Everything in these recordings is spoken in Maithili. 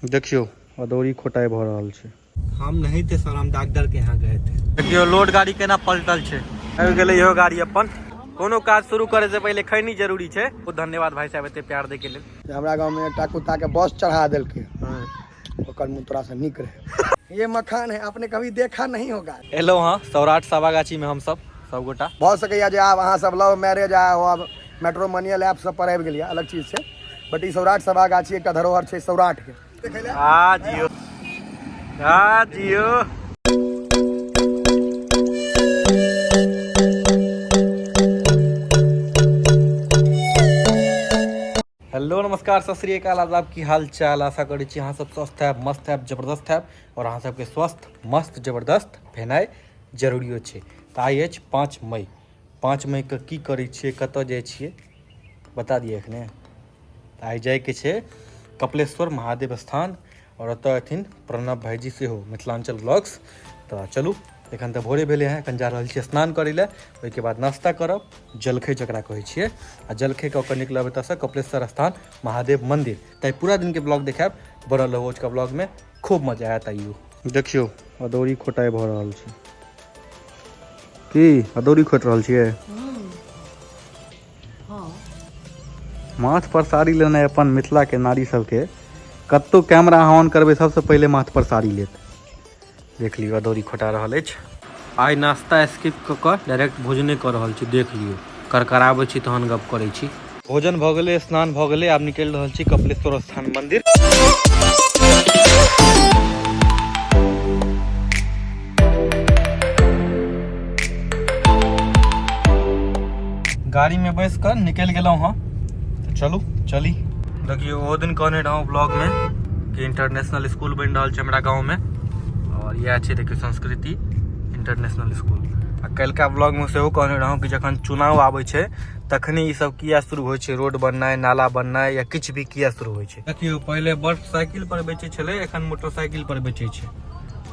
देखियो अदौरी खोटाई भ रहल छै हम नहीं थे सर हम डॉक्टर के यहाँ गए थे देखियो लोड गाड़ी केना पलटल छै आबि गेलै इहो गाड़ी अपन कोनो काज शुरू करे से पहले खैनी जरूरी छै बहुत धन्यवाद भाई साहब एते प्यार दे के लेल हमरा गांव में एकटा कुत्ता के बस चढ़ा देलके हाँ। ओकर मुंह तोरा से निक रहे ये मखान है आपने कभी देखा नहीं होगा एलो हां सौराठ सावागाछी में हम सब सब गोटा भ सके या जे आब अहां सब लव मैरिज आ अब मैट्रोमोनियल ऐप सब पर आबि गेल अलग चीज छै बट ई सौराठ सभा गाछी एकटा धरोहर छै सौराठ के आ जियो आ जियो हेलो नमस्कार सत श्रीकाल आदाब की हाल चाल आशा करै छी अहाँ सब स्वस्थ है मस्त है जबरदस्त है और अहाँ सबके स्वस्थ मस्त जबरदस्त भेनाइ जरूरियो छै तऽ आइ अछि पाँच मई पाँच मइके की करै छियै कतऽ जाइ छियै बता दिअ एखने तऽ आइ जाइके छै कपिलेश्वर महादेव स्थान आओर ओतऽ अथिन प्रणव भाइजी सेहो मिथिलाञ्चल ब्लॉग्स तऽ चलू एखन तऽ भोरे भेलै हँ एखन जा रहल छी स्नान करै लए ओहिके बाद नाश्ता करब जलखै जकरा कहै छियै आ जलखै कऽ कऽ निकलब एतऽसँ कपिलेश्वर स्थान महादेव मन्दिर तऽ पूरा दिनके ब्लॉग देखायब बड़ा लवोज का ब्लॉगमे खूब मजा आयत आइयो देखियो अदौरी खोटाई भ रहल छै की अदौरी खोट रहल छियै माथ पर साड़ी लेना है अपन मिथिला के नारी सबके कत्तो कैमरा ऑन करबे सबसे पहले माथ पर साड़ी लेत देख लियो अदौरी खोटा रहल अछि आइ नाश्ता स्किप कऽ कऽ डायरेक्ट भोजने कऽ रहल छी देख लियौ करकराबै छी तहन गप करै छी भोजन भऽ गेलै स्नान भऽ गेलै आब निकलि रहल छी कपिलेश्वर स्थान मन्दिर गाड़ीमे बैस कऽ निकलि गेलहुँ हँ तऽ चलू चली देखियौ ओहो दिन कहने रहौं ब्लॉगमे के इंटरनेशनल स्कूल बनि रहल छै हमरा गाँवमे आओर इएह छै देखियौ संस्कृति इंटरनेशनल स्कूल आ काल्हिका ब्लॉगमे सेहो कहने रहौं कि जखन चुनाव आबै छै तखने ई सब किया शुरू होइ छै रोड बननाइ नाला बननाइ या किछु भी किया शुरू होइ छै देखियौ पहिले बड़ साइकिल पर बेचै छलै एखन मोटरसाइकिल पर बेचै छै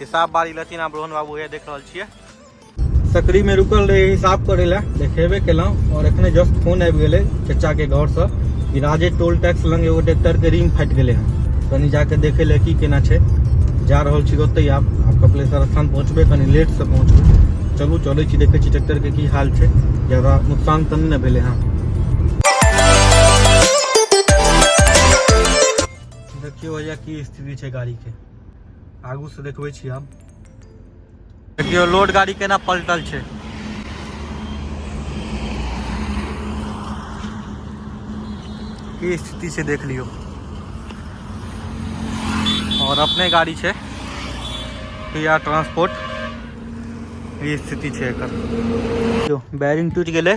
हिसाब बारी लेथिन आप रोहन बाबू है देख रहा छे सकरी में रुकल रहे हिसाब करे ला देखेबे केलहुँ और एखने जस्ट फोन आबि गेलै चचाके घरसँ कि राजे टोल टैक्स लग एगो ट्रैक्टरके रिंग फाटि गेलै हँ कनि जाके देखे ले की केना छै जा रहल छी ओतहि आब आब कपिलेश्वर स्थान पहुँचबै कनि लेटसँ पहुँचबै चलू चलै छी देखै छी ट्रैक्टरके की हाल छै ज्यादा नुकसान तऽ नहि ने भेलै हँ देखियौ भैया की स्थिति छै गाड़ीके आगू से देखबै छी हम देखियो लोड गाड़ी केना पलटल छै की स्थिति से देख लियो और अपने गाड़ी छै पिया ट्रांसपोर्ट ये स्थिति छै एकर बैरिंग टूट गेलै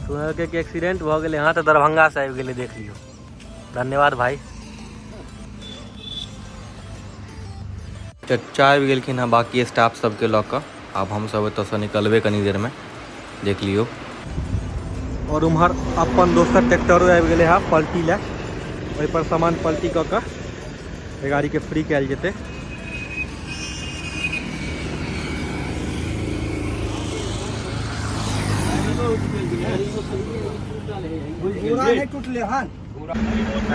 सुनलकै कि एक्सीडेंट भऽ गेलै हँ तऽ दरभंगासँ आबि गेलै देख लियौ धन्यवाद भाई चच्चा आबि गेलखिन हँ बाकी स्टाफ सबके लऽ कऽ आब हमसब एतऽसँ निकलबै कनी देरमे देख लियौ आओर उम्हर अपन दोसर ट्रैक्टरो आबि गेलै हँ पलटी लए ओहिपर सामान पलटी कऽ कऽ एहि गाड़ीके फ्री कयल जेतै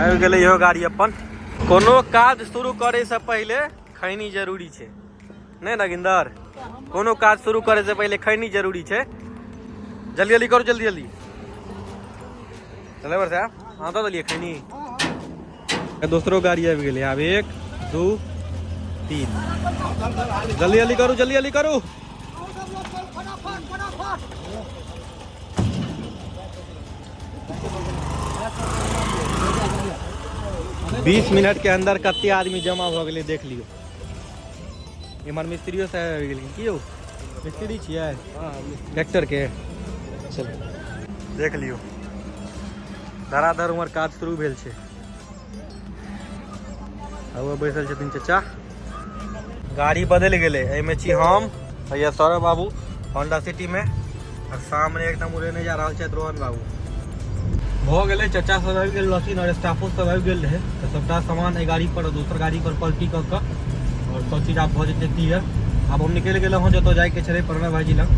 आबि गेलै इहो गाड़ी अपन कोनो काज शुरू करैसँ पहिले खैनी जरूरी छै नहीं नगिंदर कोनो काज शुरू करे से पहले खैनी जरूरी है जल्दी जल्दी करो जल्दी जल्दी ड्राइवर साहब हाँ तो दिलियै खैनी दोसरो गाड़ी आबि गेलै आब एक दू तीन जल्दी जल्दी करू जल्दी जल्दी करू बीस मिनट के अंदर कते आदमी जमा भऽ गेलै देख लियौ इमर मिस्त्रियो साहब आबि गेलखिन की यौ मिस्त्री छियै ट्रैक्टरके चल देख लियौ धराधर उमर काज शुरू भेल छै अब बैसल छथिन चचा गाड़ी बदलि गेलै एहिमे छी हम भैया सौरभ बाबू होंडा सिटी में और सामने एकदम उड़ेने जा रहा है रोहन बाबू भऽ गेलै चचा सब आबि गेल रहथिन आओर स्टाफो सब आबि गेल रहै तऽ सभटा सामान एहि गाड़ी पर दोसर गाड़ी पर पलटी कऽ कऽ आओर सब चीज आब भऽ जेतै क्लियर आब हम निकलि गेलहुँ हँ जतऽ जाइके छलै प्रणव भाईजी लग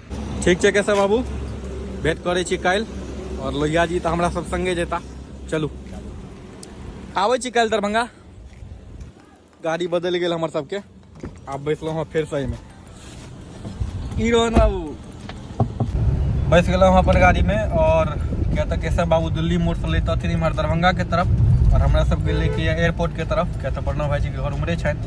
ठीक छै कैसे बाबू भेट करै छी काल्हि आओर लोहिया जी तऽ हमरा सब संगे जेता चलू आबै छी काल्हि दरभंगा गाड़ी बदलि गेल हमर सबके आब बैसलहुँ हँ फेर सहीमे ई रोहन बाबू बैस गेलहुँ हँ अपन गाड़ीमे आओर किया तऽ केशव बाबू दिल्ली मोड़सँ लैतथिन इम्हर दरभंगाके तरफ आओर हमरा सब गेलै कि एयरपोर्टके तरफ किया तऽ प्रणव भाईजीके घर उम्हरे छनि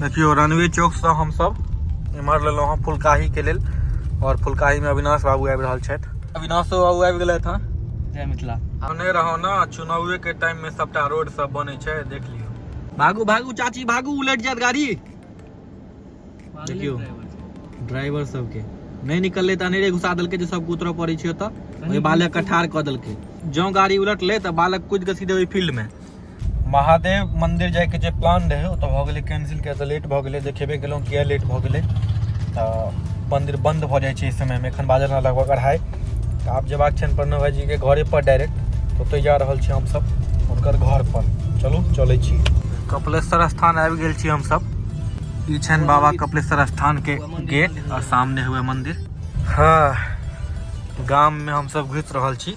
देखियो रनवे चौक से हम सब इमर लेलो हां फुलकाही के लेल और फुलकाही में अविनाश बाबू आबि रहल छथि अविनाश बाबू आबि गेले था जय मिथिला हमने रहो ना चुनावे के टाइम में सबटा रोड सब बने छे देख लियो भागू भागू चाची भागू उलट जात गाड़ी देखियो ड्राइवर सब के नहीं निकलले त अनेरे घुसा देलके जे सब उतरऽ पड़े छै ओतऽ ओहि बालक के ठार कऽ देलके जौं गाड़ी उलटले त बालक कूद के सीधे ओहि फील्ड में महादेव मंदिर जाए के जे प्लान रहे ओ तो भऽ गेलै कैंसिल किया तऽ लेट भऽ गेलै देखेबे केलहुँ किया लेट भऽ गेलै तऽ मंदिर बंद भऽ जाइ छै एहि समयमे एखन बाजल हँ लगभग अढ़ाई तऽ आब जेबाक छनि प्रणव भाईजी के घरे पर डायरेक्ट ओतय जा रहल छी हमसब हुनकर घर पर चलू चलै छी कपिलेश्वर स्थान आबि गेल छी हमसब ई छनि बाबा कपिलेश्वर स्थान के गेट और सामने हुए मंदिर हाँ गाम में हमसब घुसि रहल छी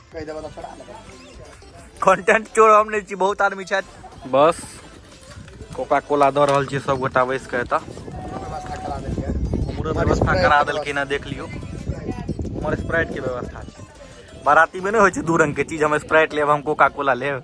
कहि देबऽ तऽ छोड़ा देबऽ कंटेंट चोर हम नहि छी बहुत आदमी छथि बस कोका कोला दऽ रहल छियै सब गोटा बैस कऽ एतऽ व्यवस्था करा देलियै हमरो व्यवस्था करा देलखिन हँ देख लियौ हमर स्प्राइट के व्यवस्था छै बाराती में नहि होइ छै दू रंग के चीज हम स्प्राइट लेब हम कोका कोला लेब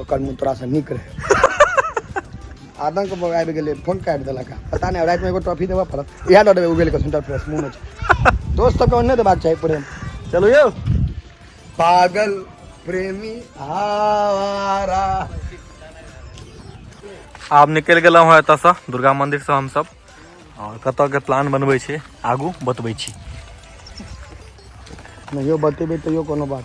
ओकर मुँह तोरा से नीक रहे आदम के बगाबि गेलै फोन काटि देलक हँ। पता नहि रातिमे एगो ट्रॉफी देबऽ पड़त इएह दऽ देबै उगेल के सेंटर फ्रेश मुँह में दोस्त सबके ओन्ने देबाक चाही प्रेम चलू यौ पागल प्रेमी आवारा आब निकलि गेलहुँ हँ एतऽसँ दुर्गा मन्दिरसँ हमसभ आओर कतऽके प्लान बनबै छी आगू बतबै छी नहियो बतेबै तैयो कोनो बात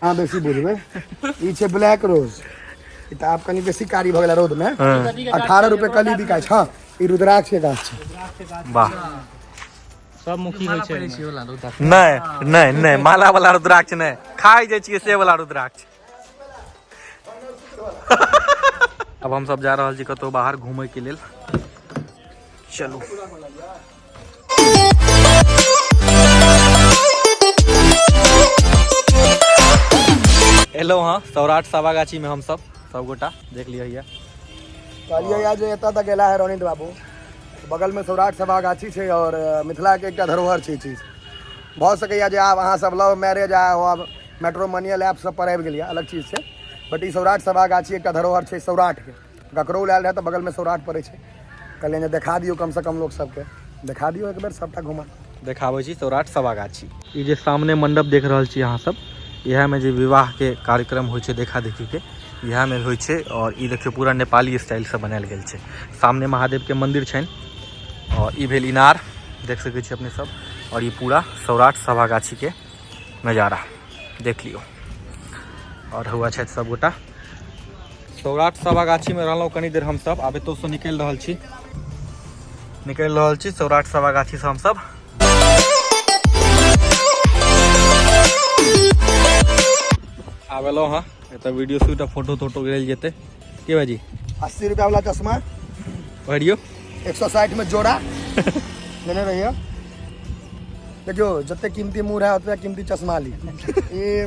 अहाँ बेसी बुझबै ई छै ब्लैक रोज ई तऽ आब कनि बेसी कारी भऽ गेल रौद मे अठारह रुपए कली बिकाइ छै हँ, ई रुद्राक्ष के गाछ छै वाह सब मुखी होइ छै नहि नहि नहि माला वाला रुद्राक्ष नहि खाइ जाइ छियै से वाला रुद्राक्ष अब हम सब जा रहल छी कतौ बाहर घूमय के लेल चलू एलहुँ हँ सौराठ सभागाछीमे हमसभ सभगोटा देख लिअ यऽ कहलियै यऽ जे एतऽ तक एला है रोनित बाबू बगलमे सौराठ सभागाछी छै आओर अ, मिथिलाके एकटा धरोहर छै ई चीज भऽ सकैए जे आब अहाँ सब लव मैरिज आ आब मेट्रोमोनियल ऐप सब पर आबि गेलियै अलग चीज छै बट ई सौराठ सभागाछी एकटा धरोहर छै सौराठके गकरौल आयल रहै तऽ बगलमे सौराठ पड़ै छै कहलियनि जे देखा दियौ कमसँ कम लोक सबके देखा दियौ एक बेर सबटा घुमा देखाबै छी सौराठ सभागाछी ई जे सामने मंडप देख रहल छी अहाँ सब इएहमे जे विवाहके कार्यक्रम होइ छै देखा देखीके इएहमे होइ छै आओर ई देखियौ पूरा नेपाली स्टाइलसँ बनायल गेल छै सामने महादेवके मन्दिर छनि आओर ई भेल इनार देख सकै छी अपने सब आओर ई पूरा सौराठ सभागाछीके नजारा देख लियौ आओर हुआ छथि सभगोटा सौराठ सभा गाछीमे रहलहुँ कनी देर हमसभ आब एतौसँ निकलि रहल छी निकलि रहल छी सौराठ सभा गाछीसँ हमसभ आब एलहुँ हँ एतऽ वीडियो शूट आ फोटो तोटो लेल जेतै की भाजी अस्सी रुपया वाला चश्मा भरियो एक सौ साठि में जोड़ा लेने रहिए देखियो जते कीमती मुँह रहे उतने कीमती चश्मा ली ई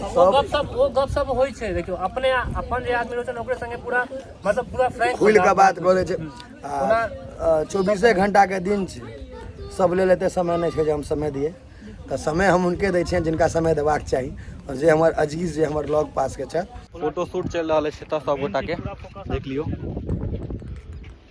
ओ गप सब ओ गप सब होइ छै देखियो अपने अपन जे आदमी रहै छै ओकरे संगे पूरा मतलब पूरा फ्रैंक खुल के बात करे छै चौबीसे घंटा के दिन छै सब ले लेते समय नहीं छै जे हम समय दिए तो समय हम उनके दै छियनि जिनका समय देबाक चाही और जे हमर अजीज जे हमर लग पास के छथि फोटो शूट चलि रहल अछि एतऽ सब गोटा के देख लियो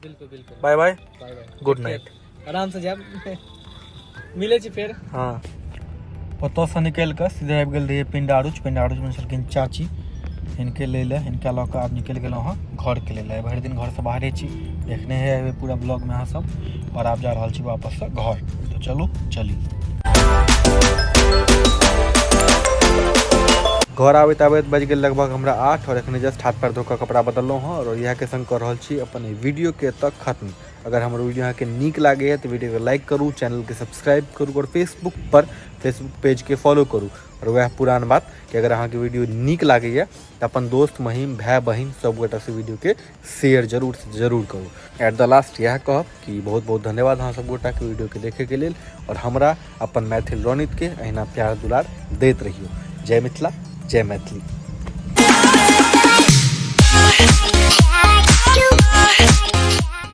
बिल्कुल बिल्कुल bye bye bye bye good night आराम से जाब मिले छी फेर हाँ ओतऽसँ निकलि कऽ सीधे आबि गेल रहियै पिंडारुच पिंडारुचमे छलखिन चाची हिनके लै लए हिनका लऽ कऽ आब निकलि गेलहुँ हँ घरके लेल आइ भरि दिन घरसँ बाहरे छी देखने हे हेबै पूरा ब्लॉगमे अहाँ सब आओर आब जा रहल छी वापससँ घर तऽ चलू चली घर आबैत आबैत बाजि गेल लगभग हमरा आठ आओर एखने जस्ट हाथ पैर धो कऽ कपड़ा बदललहुँ हँ आओर इएहके संग कऽ रहल छी अपन एहि वीडियोके एतऽ खत्म अगर हमर वीडियो अहाँके नीक लागैए तऽ वीडियोके लाइक करू चैनलके सब्सक्राइब करू आओर फेसबुकपर फेसबुक पेजके फॉलो करू आओर वएह पुरान बात कि अगर अहाँके वीडियो नीक लागैए तऽ अपन दोस्त महीम भाय बहिन सभगोटासँ वीडियोके शेयर जरूरसँ जरूर करू एट द लास्ट इएह कहब कि बहुत बहुत धन्यवाद अहाँ सब गोटाके वीडियोके देखैके लेल आओर हमरा अपन मैथिल रणितके अहिना प्यार दुलार दैत रहियौ जय मिथिला जय मैथिली